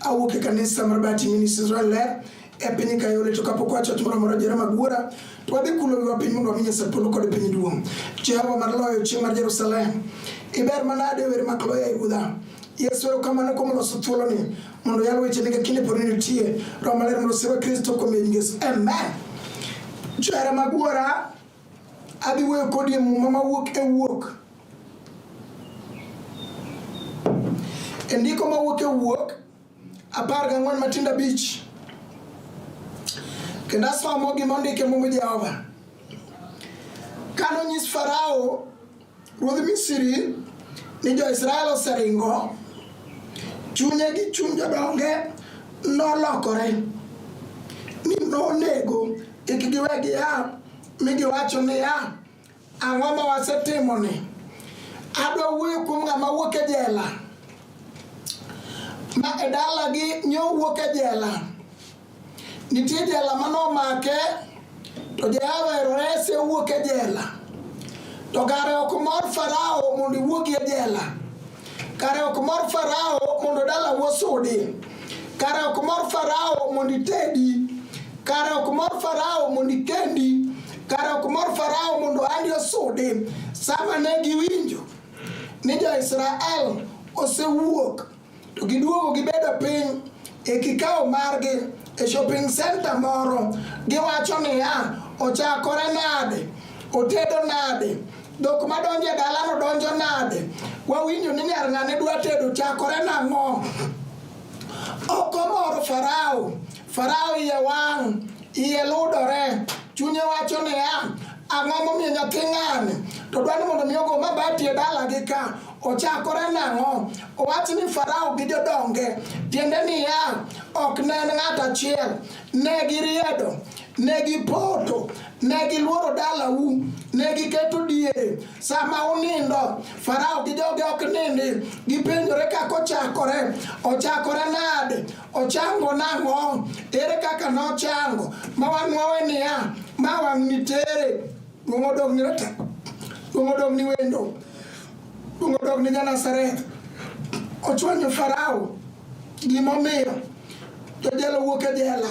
awuok e kanisa mar Bati Ministries Israel Ler e piny ka yore to kapok wacho timo moro jere mag wuora to wadhi kulo wiwa piny mondo wami Nyasaye polo kod piny duong' Jehova mar loyo chieng' mar Jerusalem iber manade wer mak loya e ruodha Yesu erokamano kuom loso thuoloni mondo yal wechene ka kinde pod nitie Roho Maler mondo osirwa Kristo kuom yie Yesu amen johera mag wuora adhi wuoyo kodi e muma mawuok e wuok E ndiko ma wuok e wuok apar gang'wen matindo abich kendo asomo gima ondike muma Jehova. Ka nonyis Farao ruodh Misri ni jo-Israel oseringo, chunye gi chuny jodonge nolokore ni nonego kik giwe gia mi giwacho niya, Ang'o ma wasetimoni? Adwa wuoyo kuom ng'ama wuok e jela ma e dalagi nyo wuok e jela. Nitie jela ma nomake to Jehova ero rese owuok e jela. To kare ok mor Farao mondo iwuogi e jela. Kare ok mor Farao mondo dalau osudi, kare ok mor Farao mondo itedi, kare ok mor Farao mondo ikendi, kare ok mor Farao mondo andi osudi. Sama ne giwinjo ni jo-Israel osewuok to giduogo gibedo piny e kikawo margi e shopping center moro, giwacho niya, ochakore nade, otedo nade, dhok madonjo e dalano donjo nade wawinjo ni nyar ng'ane dwa tedo chakore nang'o ok omoro farao farao iye wang' iye ludore chunye wacho niya ang'o momiyo nyathi ng'ane to dwani mondo mi ogo mabati e dalagi ka ochakore nang'o owach ni farao gi jodonge tiende niya ok ne en ng'at achiel Ne giriedo, ne gipoto, ne giluoro dalau, ne giketo diere. Sama unindo, Farao gi joge ok nindi, gipenjore kaka ochakore, ochakore nade, ochango nang'o, ere kaka nochango, ma wanwawe niya, ma wang' nitere, duong' odong' ni rata, duong' odong' ni wendo. Kuongo dok ne Janazareth ochwanyo Farao gimomiyo jojela wuok e jela,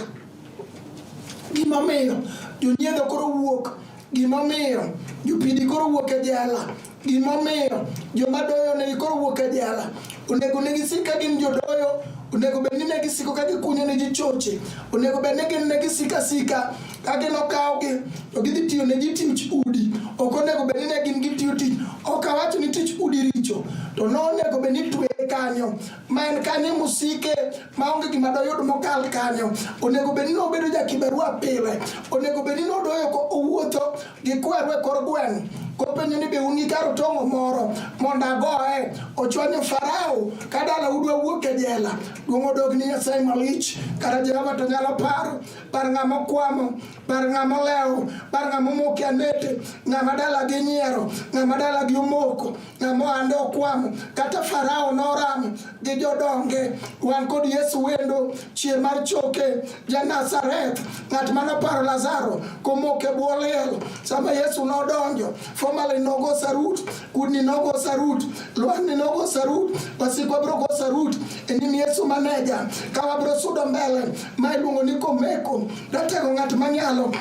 gimomiyo jonyiedho koro wuok, gimomiyo jopidi koro wuok e jela, gimomiyo joma doyo ne koro wuok e jela. Onego ne gisik ka gin jodoyo, onego bed ni ne gisiko ka gikunyo ne ji choche, onego bed ni gin ne gisika sika ka gin okawgi to gidhi tiyo ne ji tich udi ok onego bed ni ne gin gitiyo tich ok awacho ni tich udi richo to nonego bed ni tweye kanyo ma en kanyo musike ma onge gima doyud mokal kanyo onego bed ni nobedo jakibarua pile onego bed ni nodoyo ko- owuotho gi kweru e kor gweng' kopenjo ni be un gi kar tong'o moro mondo agoye ochwanyo farao ka dala udwa wuok e jela duong' odog ni nyasaye malich kata jehova to nyalo paro par ng'ama okwamo, par ng'ama olewo, par ng'ama omoke anete, ng'ama dalagi nyiero, ng'ama dalagi omoko, ng'ama ohande okwamo. Kata Farao noramo gi jodonge. Wan kod Yesu wendo, chier mar choke, ja Nazareth, ng'at mane oparo Lazaro komoke bwo liel. Sama Yesu nodonjo Formalin nogo sarut, kudni nogo sarut, lwang'ni nogo sarut, wasikwa bro go sarut e nyim Yesu maneja. Ka wabro sudo mbele ma iluongo ni komeko, datego ng'at manyalo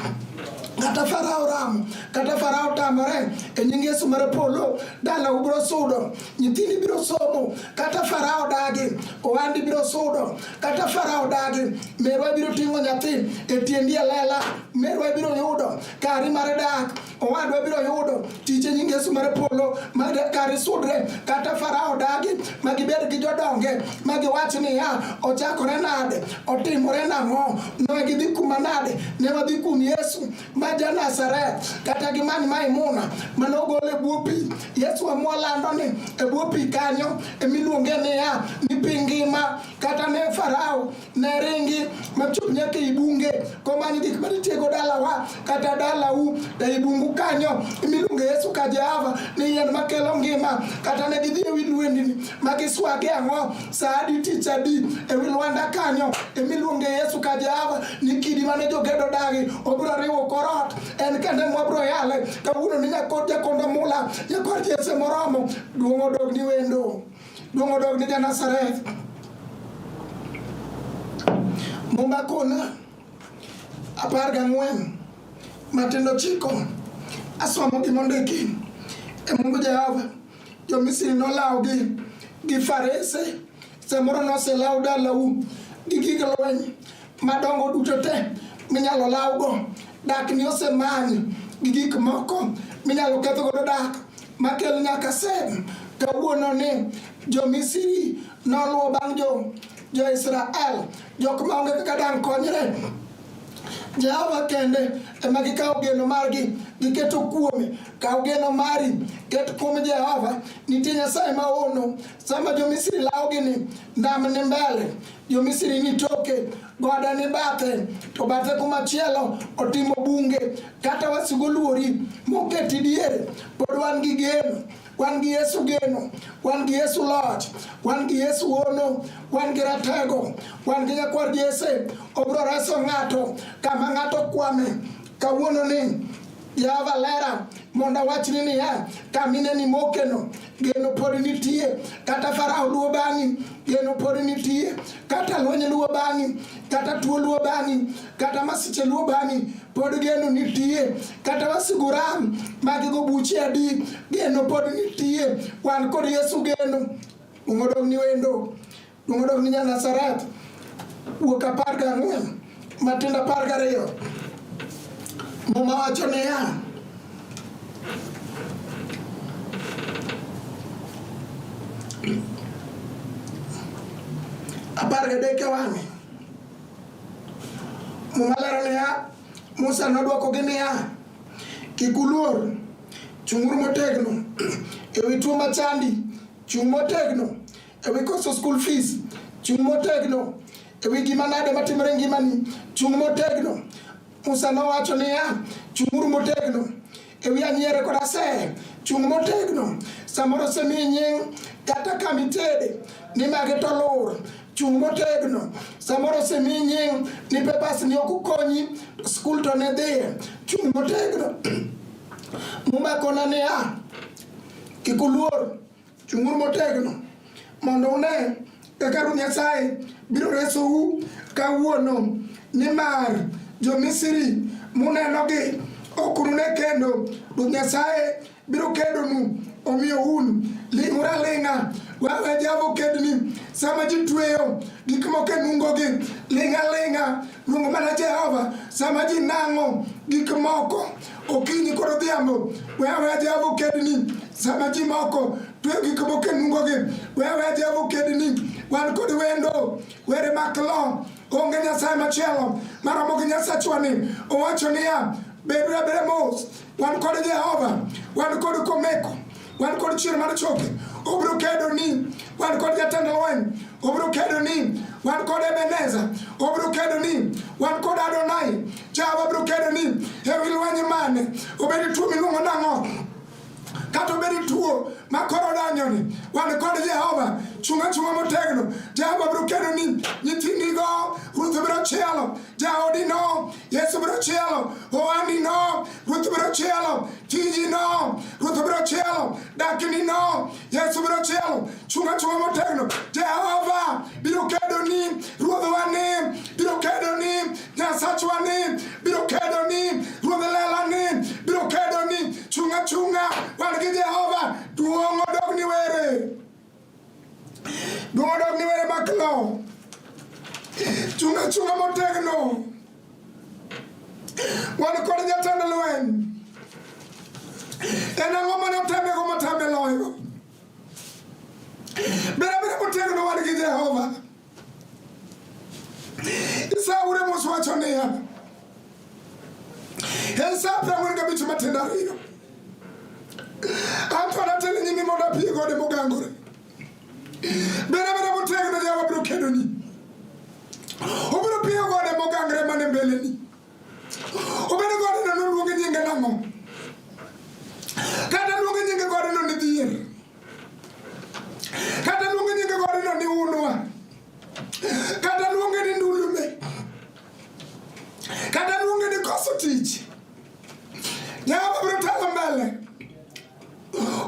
kata farao ramo kata farao tamore e nying yesu mar polo dala ubiro sudo nyithindi biro somo kata farao dagi owandi biro sudo kata farao dagi merwa biro ting'o nyathi e tiendi alela merwa biro yudo kari mar dak owadwa biro yudo tich e nying Yesu mar polo ma kar isudre kata Farao dagi ma gibed gi jodonge ma giwach niya ochakore nade otimore nang'o ne gidhi kuma nade ne wadhi kum Yesu ma ja Nazareth kata gi mani Maimuna mane ogol e bwo pi Yesu amwa lando ni e bwo pi kanyo emiluonge niya ni pi ngima kata ne Farao narengi machop nyaka e bunge komani gik ma nitiego dalawa kata dalau e bungu kanyo imiluongo yesu ka jehova ni yien makelo ngima kata ne gidhi e wi lwendni ma giswage ang'o sa adi tich adi e wi lwanda kanyo imiluongo yesu ka jehova ni kidi mane jogedo dagi obiro riwo korot en kende mwabiro yale kawuono ni nyakod jakondo mula nyakod jese moromo duong' odog ni wendo Dongo dog ni Janasareth Muma kona apar gang'wen matindo chiko asomo gi mondiki e Mungu Jehova jo-Misri nolawogi gi farese samoro noselaw dalau gi gig lweny madongo duto te minyalo lawgo dak ni osemanyi gi gik moko minyalo ketho godo dak makel nyaka sem kawuono ni jomisiri noluwo bang' jo jo-israel jok maonge kaka dang' konyre jehova kende ema gikawo geno margi giketo kuome kaw geno mari ket kuom jehova nitie nyasaye maono sama jomisiri lawogi ni nam ni mbele Jo-Misri ni toke, goda ni bathe, to bathe kumachielo otimo bunge. Kata wasigu oluori moketi diere, pod wan gi geno wan gi Yesu geno, wan gi Yesu loch, wan gi Yesu hono, wan gi ratego, wan gi nyakwar Jese, obro reso ng'ato kama ng'ato kwame kawuono ni Java lera mondo awachni niya, kamine ni mokeno geno pod nitie, kata Farao luwo bang'i geno pod nitie, kata lweny luwo bang'i, kata tuo luwo bang'i, kata masiche luwo bang'i, pod geno nitie, kata wasigu ram magigo buche adi, geno pod nitie. Wan kod Yesu geno, ungodong' ni wendo Nodok ni Nyanasaret wuok apar gang'wen matindo apar gariyo muma wacho niya apar gadek e wang'e muma lero niya Musa nodwokogi niya kik uluor chung'uru motegno e wi tuo machandi chung' motegno e wi koso school fees chung' motegno e wi gima nade matimore ngimani chung' motegno musa nowacho niya chung'uru motegno e wi anyiere kod asere chung' motegno samoro osemiyi nying kata kama itede ni mage to lur chung' motegno samoro osemiyi nying ni pepas ni ok ukonyi skul to ne dhiye chung' motegno mumakona niya kik uluor Chung'uru motegno mondo une kaka Ruoth Nyasaye biro resou kawuono, nimar jo-Misri munenogi ok unune kendo. Ruoth Nyasaye biro kedonu, omiyo un ling'uru aling'a. Wawe javo kedni sama ji tweyo gik moko e nungogi, ling' aling'a, luong mana Jehova sama ji nang'o gik moko. okinyi koro odhiambo wewe Jehova okedni sama ji moko twe gik moko e nungogi wewe Jehova okedni wan kod wendo were mak lo onge nyasaye machielo maromo gi nyasachwani owacho niya beduru abeda mos wan kod Jehova wan kod komeko wan kod chier mar choke obiro kedo ni wan kod jatend lweny obiro kedo ni wan kod ebeneza obiro kedo ni wan kod adonai jawa biro kedo ni ewi lweny mane obedi tuo miluongo nang'o kata obedi tuo ma koro danyoni wan kod jehova chunga chunga motegno jehova biro kedo ni nyithindigo ruth biro chielo jaodino Yesu biro chielo ohandi no, Ruoth biro chielo tiji no, Ruoth biro chielo dakni no, Yesu biro chielo chunga chunga motegno. Jehova biro kedo ni, Ruodhwa ni biro kedo ni, Nyasachwa ni biro kedo ni, Ruodh lela ni biro kedo ni, chunga chunga wan gi Jehova, duong' odog ni were. Duodok ni were maklo. Chunga chunga motegno. Wan kod jatend lweny. En ang'o mane oteme go motame loyo? Bere bere motegno wan gi Jehova. Esau ule mose wacho niya, Esau prang'wen gabich matindo ariyo anto anatene nyimi mondo apie gode mogangore bere bere motegno jawa biro kedoni obiro piyo gode mogangre mane mbeleni Obedo gode no noluonge nyinge nang'o? Kata luonge nyinge gode no ni dhier. Kata luonge nyinge gode no ni unwa. Kata luonge ni ndulume. Kata luonge ni koso tich. Nyaka biro telo mbele.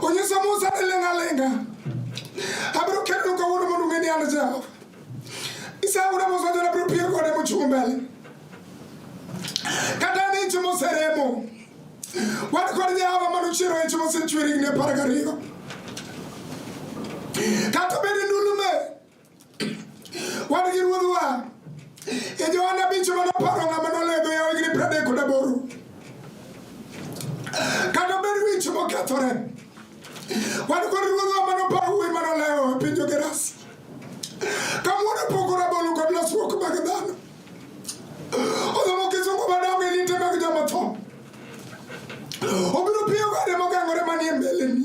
Onyiso Musa ni ling' aling'a. Abiro kelonu kawuono mondo ung'e ni an Jehova. Isaura Musa jona biro piyo kode mochung' mbele. Kata ni ich moseremo. Wan kod Jehova mano chiero ich mosechwer higni apar gariyo. Kata bed ni Wan gi ruodhwa e Johana abich mane oparo ng'ama noledho yawo higni piero adek kod aboro. Kata obedo wich mokethore, wan kod ruodhwa mane oparo wuoyi mane olewo e piny Jogerasi. Kawuono opoko rabolo kod lasruok mag dhano. Odhomo kisungu madongo e liete mag joma tho. Obiro piyo gode mogangore manie mbeleni.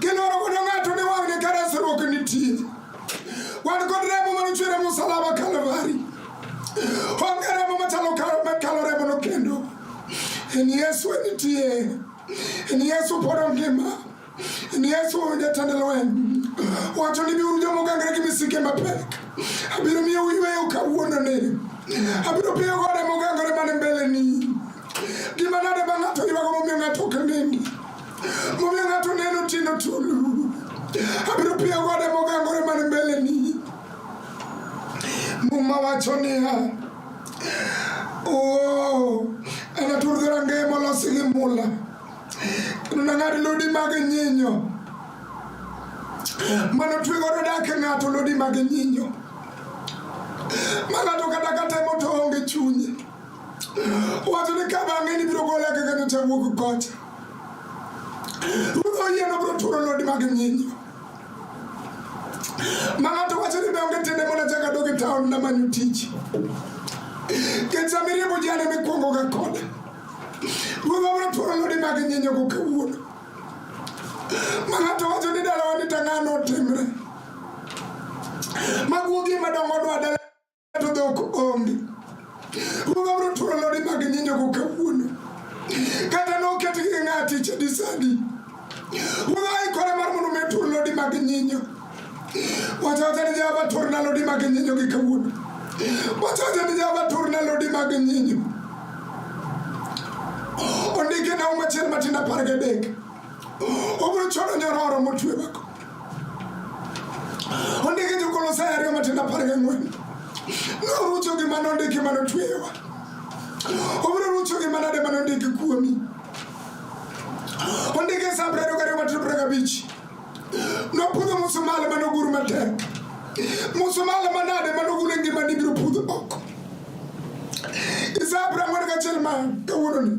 Kiloro kono ng'ato ne wang'ne ka resruok nitie. Wan kod remo manochwere musalaba Kalvari. Onge remo machalo kalo remono kendo. En Yesu nitie. En Yesu pod ongima. En Yesu jatend lweny. Wacho ni biuru jomogangre gi misike mapek. Abiro miyo uyweyo kawuononi. Abiro piyo gode mogangore man mbeleni. Gima nade ma ng'ato ywago momiyo ng'ato ok nind? Momiyo ng'ato neno tindo tulu. Abiro piyo gode mogangore man mbeleni. Muma wacho niya, oh, anatur dhorangeye molosi gi mula kendo nang'ad lodi mag nyinyo mano twe godo dak e ng'ato lodi mag nyinyo ma ng'ato kata katemo to onge chunye Wacho ni ka bang'e ni biro gola kaka nyocha wuok kocha. Ruoth oyie nobiro turo lodi mag nyinyo. Ma ng'ato wacho ni donge tiende mondo achak adog e taon namanyo tich. Kech sama iriembo ji ane mikwongoga kode. Ruoth obiro turo lodi mag nyinyo go kawuono. Ma ng'ato wacho ni dalawa ni tang'ano otimre. Maguogi madongo dwa dala to dhok onge. Ruodha biro turo lodi mag nyinyogo kawuono. Kata noket gi ng'ati chadi sadi. Ruodha aikore mar mondo mi tur lodi mag nyinyo. Wacha wacha ni Jehova turna lodi mag nyinyo gi kawuono. Wacha wacha ni Jehova turna lodi mag nyinyo. Ondike na umachiel matin apar gadek. obiro choro nyororo motwe mako ondiki jokolosai ariyo matindo apar gang'wen norucho gi mane ondiki mane otweyewa obiro rucho gi manade mane ondiki kuomi ondiki e sa prariyo gariyo matindo prariyo gabich nopudho musumali mane ogur matek musumali manade mane ogule ngimani biro pudho oko isa prang'wen gachiel ma kawuononi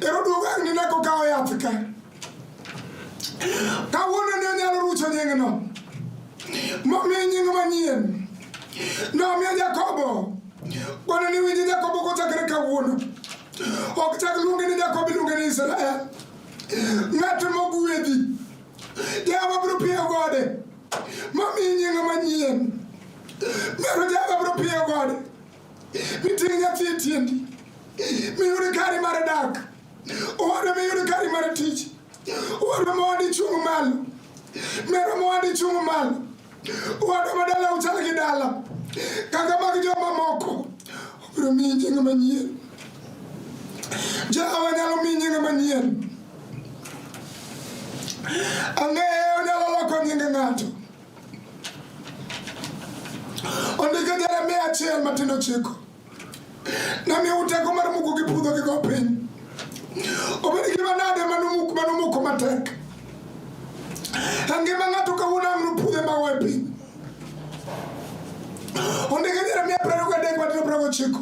Eroduogo ni neko kawo yath ka. Kawuono ne onyalo rucho nying'no. Momiye nying manyien. Nomiyo Jakobo. Kono ni winji Jakobo kochakre kawuono. Ok chak luonge ni Jakobo iluonge ni Israel. Ng'at mogwedhi. Jehova biro piyo gode. Momiye nying manyien. Mero Jehova biro piyo gode. Miting' nyathi e tiendi, miyud kari mar dak, owadwa miyud kari mar tich, owadwa mowadi chung' malo, mero mowadi chung' malo, owadwa ma dala uchal gi dala, kaka mag joma moko, obiro miyi nying manyien. Jehova nyalo miyi nying manyien. Ang'eyo onyalo loko nying ng'ato. Ondiko Jeremia achiel matindo chiko namiyo uteko mar muko gi pudho gi go piny obed gima nade manumuk manumuko matek angima ng'ato kawuono ang' nopudhe mago e piny ondiko Jeremia prariyo gadek matindo prago chiko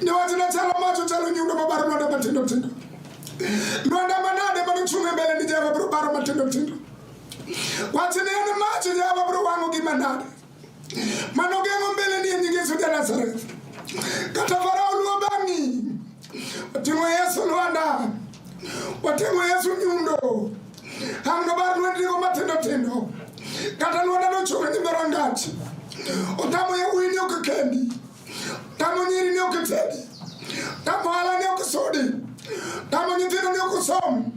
ne wati na chalo macho chalo nyundo mabaro nonda matindo tindo nonda manade manuchunge mbele ni java bro baro matindo tindo wati ne ene macho java bro wango gi manade manogengo mbele ni enyingi yesu ja nazareth kata farao luo bangi wating'o yesu lwanda wating'o yesu nyundo hamno bar lwendnigo matindo tindo kata lwanda nochunga nyime rangach otamo yawuyi ni ok kendi tamo nyiri ni ok tedi tamo hala ni ok sudi tamo nyithindo ni ok som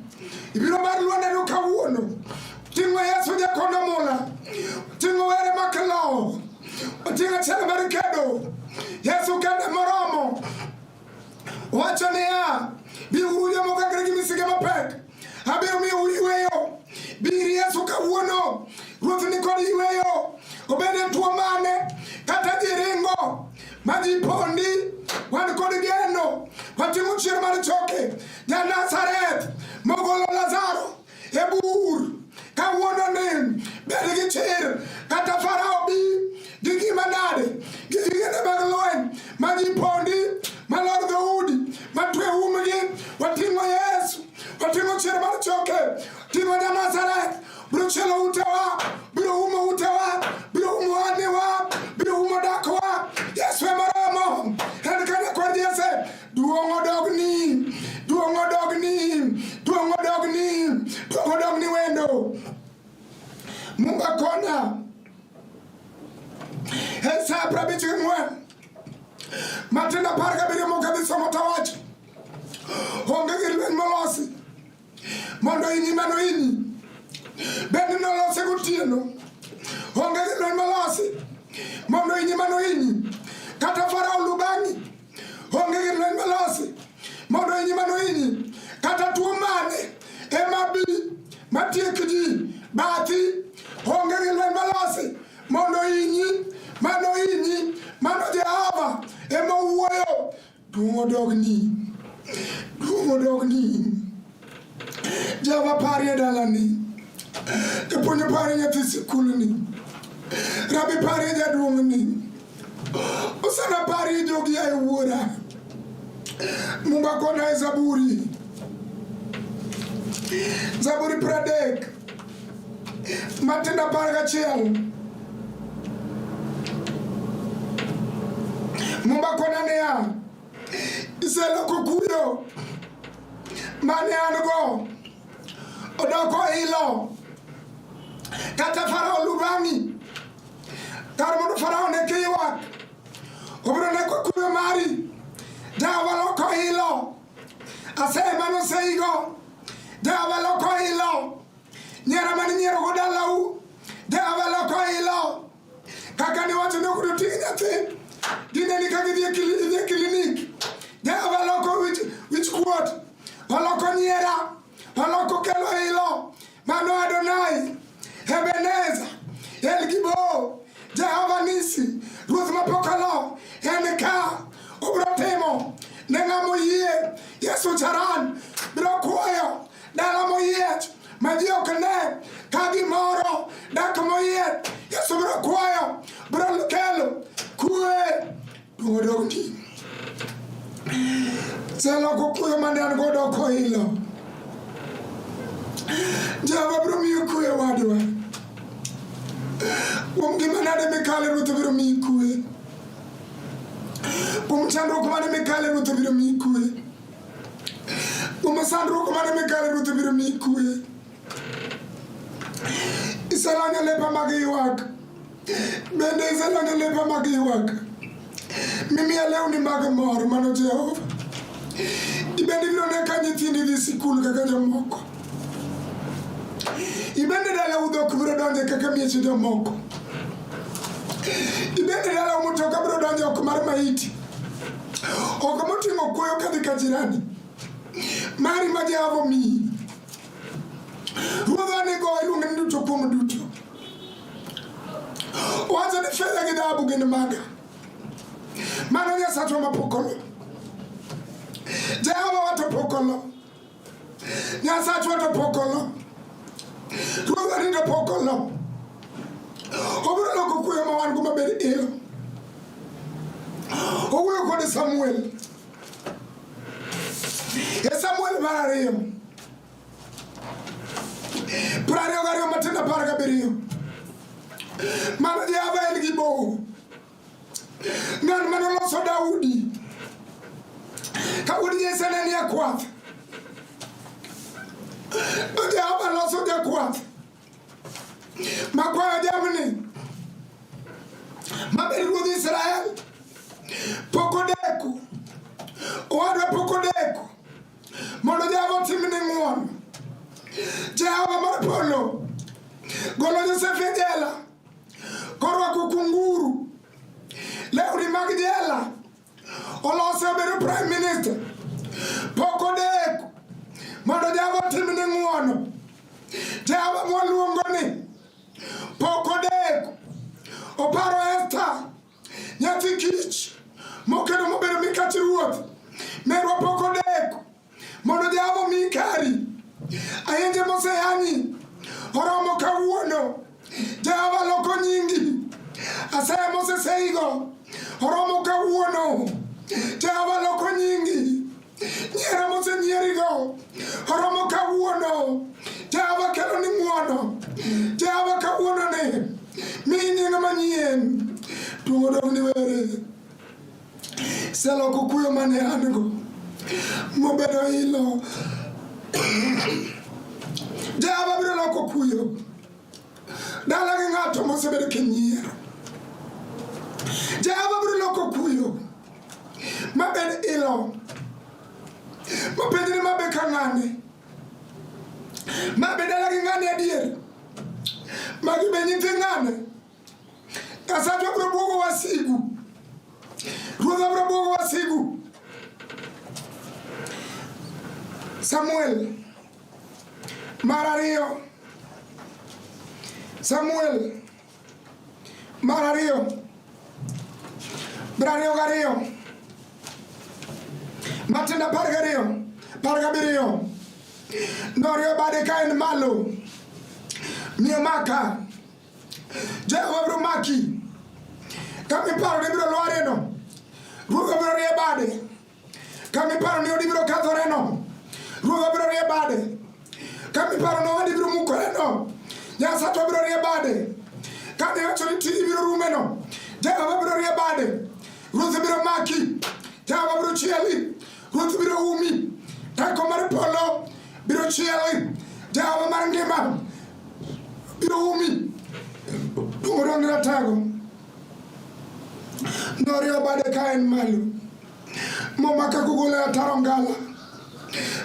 ibiro bar lwandano kawuono ting'o yesu jakondo mula ting'o were makilowo oting'o achiel mar kedo yesu kende moromo Wacho niya, biuru jomoko angre gi misike mapek, abiro miyo uyweyo. Bir Yesu kawuono, Ruoth ni kod yweyo, obed e tuo mane kata jiringo ma ji pondi, wan kod geno, watimo chier mar choke, ja Nazareth mogolo Lazaro e bur kawuononi bed gi chir kata farao bi gi gima nade gi gigene mag lweny ma ji pondi ma lor dhoudi ma twe umgi wating'o yesu wating'o chir mar choke ting'o ja nazareth biro chielo utewa biro umo utewa biro umo aniwa biro umo dakwa yesu emoromo en kane kod jese Duong' odogni, duong' odogni, duong' odogni, duong' odogni wendo. Mungu akona. Esa prabichi mwe. Matenda parga biri mo kabisa motawach. Onge gi lweny molosi. mondo inyi mano inyi bende nolose gotieno onge gi lweny molosi mondo inyi mano inyi kata farao lu bang'i onge gi lweny molosi mondo inyi mano inyi kata tuo mane ema bi matiek ji bathi onge gi lweny molosi mondo inyi mano inyi mano jehova ema owuoyo Duong' odogni. Duong' odogni. Java pari e dalani. Japuonj pari nyathi sikulni. Rabi pari e jaduong'ni. Osana pari e jogi ae wuora. Mumba kona e zaburi. Zaburi pradek. matenda pale kachiyangu mumbakonaneya iselokokuyo maneyanugo odoko ilo kata farao lubami kar mondo farao ne kiywak obiro neko kuyo mari dawa loko ilo asema noseigo dawa loko ilo nyara mani nyiero go dalau dawa loko ilo kaka ni wacho ni ok doting' nyathi dine ni kaka idhi e klinik dawa loko wich kuot oloko nyiera Alokokelo ilo mano Adonai Ebeneza El Gibo Jehova Nisi Ruoth mapokalo en ka obro timo ne ng'amo yie Yesu charan biro kuoyo dala moyiech ma ji ok ne ka gimoro dak moyiech Yesu biro kuoyo biro kelo kue Dwogodokti. Seloko kuyo mane an godo ok oilo. Jehova biro miyo kuyo wadwa. Kuom gima nade mikale Ruoth biro miyi kuwe. Kuom chandruok mane mikale Ruoth biro miyi kuwe. Kuom sandruok mane mikale Ruoth biro miyi kuwe. Isalanya lepa mag ywak. Bende isenone lepa mag ywak, mimiya lewni mag mor, mano Jehova. Ibende ibiro ne ka nyithindi dhi sikul kaka jomoko. Ibende dalau dhok biro donje kaka mieche jomoko. Ibende dalau mutoka biro donje oko mar maiti, oko moting'o kuoyo kadhi ka jirani. Mari ma Jehova omiyi, ruodhwa nigo iluonge ni duto kuom duto. Wanza ni fedha gidhabu gin maga. Mano Nyasaye to mapokolo. Jehova watopokolo. Nyasaye watopokolo. Ruoth arindo pokolo. Obiro loko kuyo ma wan go maber ilo. Owuoyo kod Samuel. E Samuel mar ariyo. Prariyo gariyo matin apar gabiriyo. Mano Jehova en gi bow. Ng'at mane oloso Daudi. Ka wuod Jesse ne nie kwath. To Jehova loso jakwath. Makwayo jamni. Mabed ruodh Israel. Pok odeko. Owadwa pok odeko. Mondo Jehova otimni ng'uono. Jehova mar polo golo Josef e jela korwako kunguru lewni mag jela olose obedo prime minister pok odeko mondo Jehova otimni ng'uono. Jehova mwaluongo ni pok odeko oparo Esta Nyathi kich mokedo mobedo mikach ruoth merwa pok odeko mondo jamo mi kari ayenje moseyanyi oromo kawuono jehova loko nyingi asaya moseseigo oromo kawuono jehova loko nyingi Nyiero mosenyierigo oromo kawuono. Jehova kelo ni ng'wono. Jehova kawuono ni mi nying manyien. Tuo dog ni were. Seloko kuyo mane an go mobedo ilo. Jehova biro loko kuyo. Dala gi ng'ato mosebedo kinyiero. Jehova biro loko kuyo mabed ilo mapenjni mabe ka ng'ane mabe dala gi ng'ane adier magi be nyithi ng'ane Nyasaye biro duogo wasigu. Ruoth biro duogo wasigu. Samuel mar ariyo Samuel mar ariyo mar ariyo gariyo Matendo apar gariyo apar gabiriyo noriyo bade ka en malo miyo maka Jehova biro maki ka miparo ni biro lwareno, ruodh obiro rie bade. Ka miparo ni odi biro kethoreno, ruodh obiro rie bade. Ka miparo ni odi biro mukoreno, Nyasaye obiro rie bade. Ka niwacho ni tiji biro rumeno, Jehova biro rie bade. Ruoth biro maki, Jehova biro chieli. Ruoth biro umi, teko mar polo biro chieli, Jehova mar ngima biro umi. Duong' ne ratego norio bade ka en malo momaka kugole ataro ngala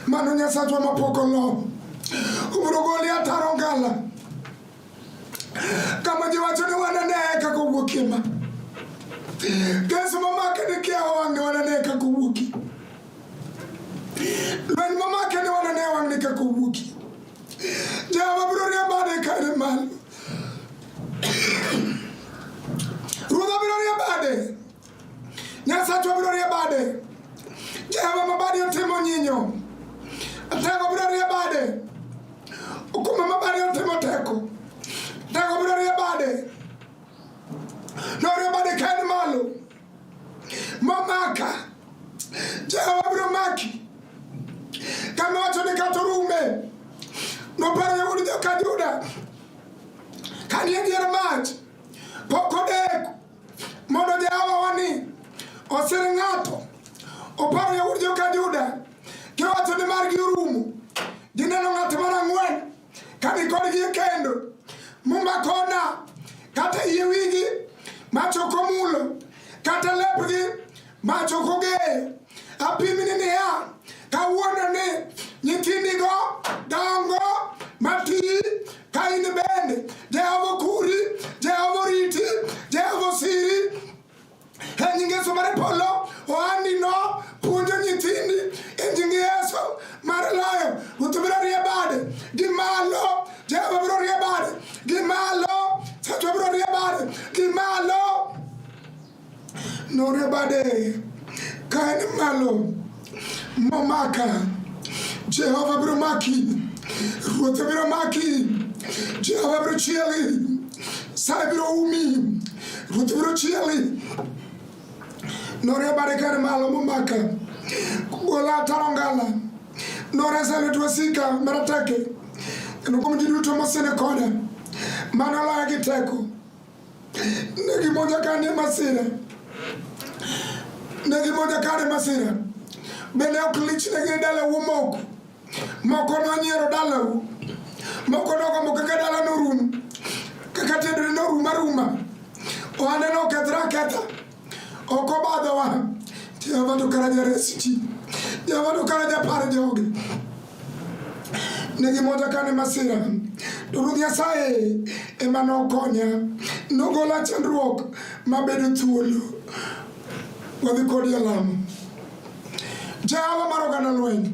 mano nyasachwa mapok oloo ubiro goli ataro ngala kama giwacho ni wananeye kaka owuokie ma kes mamake ni kiawa wang'ni wananeye kaka owuokie lweny mamake ni wananeye wang'ni kaka owuokie jehova biro riembane kare malo ruodha biro riembane Nyasacho biro rie bade. Jehova ma bade otimo nyinyo. Tego biro rie bade. Okume ma bade otimo teko. Tego biro rie bade. Norie bade ka en malo. Momaka. Jehova biro maki. Kama wacho ni kata orume. Noparo yawuod joka Juda. Kani e dier mach. Pok odeko. mondo Jehova wani osir ng'ato opar yawuot joka Juda kiwacho ni margi orumo gineno ng'at mar ang'wen kani kodgi e kendo mumakona kata yie wigi machoko mulo kata lepgi Ma to ok ogeyo. Apimni niya, kawuono ni nyithindigo dongo mati ka in bende Jehova okuri, Jehova oriti, Jehova osiri. E nying Yesu mar polo, ohandino puonjo nyithindi e nying Yesu mar loyo. Ruoth biro rie bade gi malo, Jehova biro rie bade gi malo, Ruoth biro rie bade gi malo. Nore bade ka en malo momaka, Jehova biro maki, Ruoth biro maki, Jehova biro chieli, sa biro umi, Ruoth biro chieli. Nore bade ka en malo momaka, gola ataro ngala, noresa lwet wasika marateke, kendo kuom ji duto mosenekoda, mano laya gi teko. Ne gimoja kane masira, ne gimoja kane masira, bende ok lichnegi e dalau omoko, moko nonyiero dalau, moko nogombo kaka dala norum, kaka tiendene norum aruma, ohande nokethre aketha. Ok obadhowa. Jehova to kara jares ji. Jehova to kara japar jogi. Ne gimonja kane masira. To Ruoth Nyasaye ema nokonya. Nogola chandruok mabedo thuolo. Wadhi kodi e lamo. Jehova mar oganda lweny.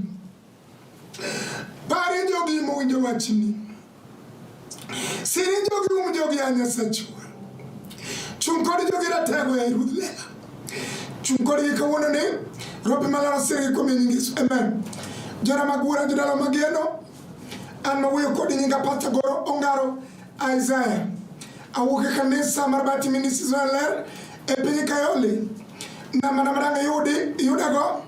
Pare jogi mowinjo wachni. Siri jogi um jogi a Nyasachwa. Chung' kod jogi ratego e Ruoth lela. Chung' kodgi kawuono ni robi malaro siri kuom nying Yesu. Amen. Jona mag wuora jodala mageno. An mawuoyo kodi nyinga Pastor Goro Ongaro Isaiah. Awuok e kanisa mar Bati Ministries Ler e piny Kayole. Nama nama dang' yudi yudago.